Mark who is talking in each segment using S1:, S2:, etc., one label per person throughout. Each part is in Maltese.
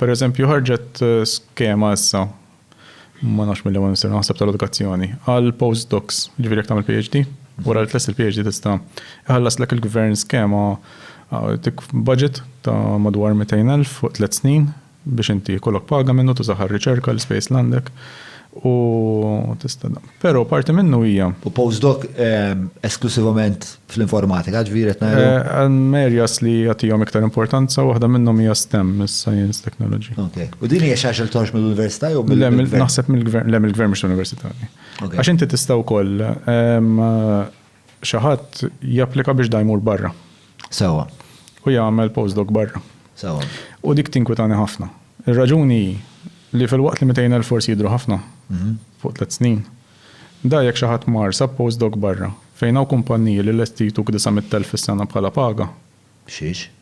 S1: Pereżempju, ħarġet skema issa, ma nafx milli ma nisir naħseb tal-edukazzjoni, għal postdocs, jiġifieri jekk tagħmel PhD, wara li tlest il-PhD tista' iħallaslek il-gvern skema tik budget ta' madwar 200,000 fuq tliet snin biex inti jkollok paga minnu tużaha għar-riċerka, l-ispejjeż li għandek u tista' Però parti minnu hija. U postdoc esklusivament fl-informatika, ġifieri qed ngħidu. Hemm areas li jagħtihom iktar importanza, waħda minnhom hija stem, is-science, technology. Okej. U din hija xi ħaġa li toħroġ mill-università jew mill-gvern? Le, naħseb mill-gvern, le mill-gvern mhux l-università. Għax inti tista' wkoll. Xi ħadd japplika biex da jmur barra. Sewwa. U jagħmel postdoc barra. Sewwa. U dik tinkwitani ħafna. Ir-raġuni hi li filwaqt li 200,000 forsi jidhru ħafna fuq tliet snin, da jekk xi ħadd mar sab postdoc barra fejn hawn kumpanniji li lesti jtuk 900,000 fis-sena bħala paga. Xiex?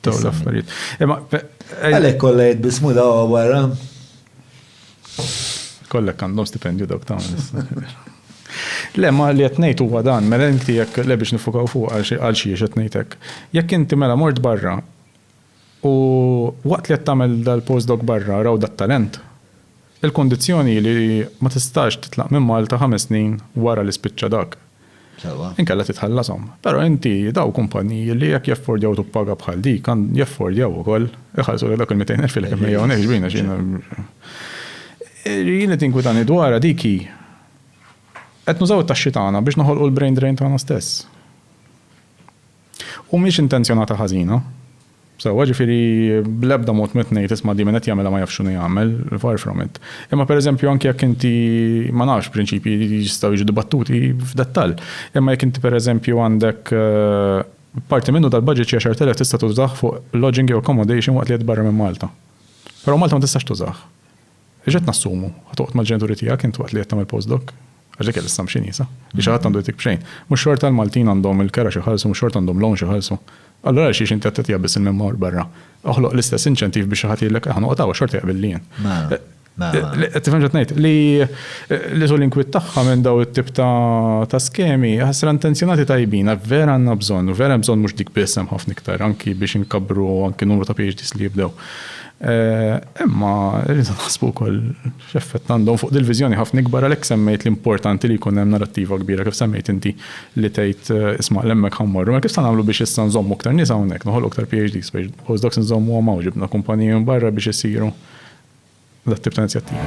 S1: Daw l-affarijiet. Għalek kolla jidbismu daw għawara. Kollek għandhom stipendju dawk ta' Le, ma li jatnejt u għadan, mela inti jek le biex nifukaw fuq għal xie jatnejtek. Jek inti mela mort barra u waqt li jattamel dal-postdoc barra raw dat-talent, Il-kundizzjoni hi li ma tistax titlaq minn Malta ħames snin wara li spiċċa dak. Sewwa. Inkella titħallashom. Però inti, daw kumpanniji li jekk jaffordjaw tuppaga bħal dik, għan, jaffordjaw ukoll iħallsulek dawk il-mitejn elf li qed immeja hawnhekk ġbin għax jiena, jien li tinkwitani dwarha dik hi, qed nużaw it-taxxi tagħna biex noħolqu l-brain drain tagħna stess. U mhix intenzjonata ħażina. Sewwa, ġifieri bl-ebda mod m'qed ngħid isma' di min qed jagħmilha ma jafx x'inhu jagħmel, far from it. Imma pereżempju anki jekk inti, ma nafx, prinċipji jistgħu jiġu dibattuti f'dettall. Imma jekk inti pereżempju għandek parti minnu tal-budget xi għaxart elef tista' tużah fuq lodging jew accommodation waqt li qed barra minn Malta. Però Malta ma tistax tużah. X'qed nassumu? Ħa toqgħod mal-ġenituri tiegħek int waqt li qed tagħmel postdoc? Għax dik hija l-assumption iesa, li xi ħadd għandu jtik b'xejn. Mhux xorta l-Maltin għandhom il-kera xi jħallsu, mhux xorta għandhom loan xi jħallsu. Allura għalxiex inti qed tagħtiha biss il-min-mor barra? Oħloq l-istess inċentiv biex xi ħadd jgħidlek aħna noqgħod hawn għax xorta jaqbilli jien. Qed tifhem x'qed ngħid? Li tul l-inkwiet tagħha minn dawn it-tip ta' skemi, ħasra intenzjonati tajbin, vera għandna bżonn, u vera hemm bżonn mhux dik biss hemm ħafna iktar, anki biex inkabbru anki numru ta' PhDs li jibdew. Imma rridu naħsbu wkoll x'effett għandhom fuq dil-viżjoni ħafna ikbar għalhekk semmejt li importanti li jkun hemm narattiva kbira kif semmejt inti li tgħid isma' l'hemmhekk ħa mmorru. Mela kif sa nagħmlu biex issa nżommu iktar nies hawnhekk, noħolqu iktar PhDs, biex postdocs inżommuhom hawn, ġibna kumpaniji minn barra biex isiru dat-tip ta' inizjattivi.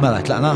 S1: Mela tlaqna?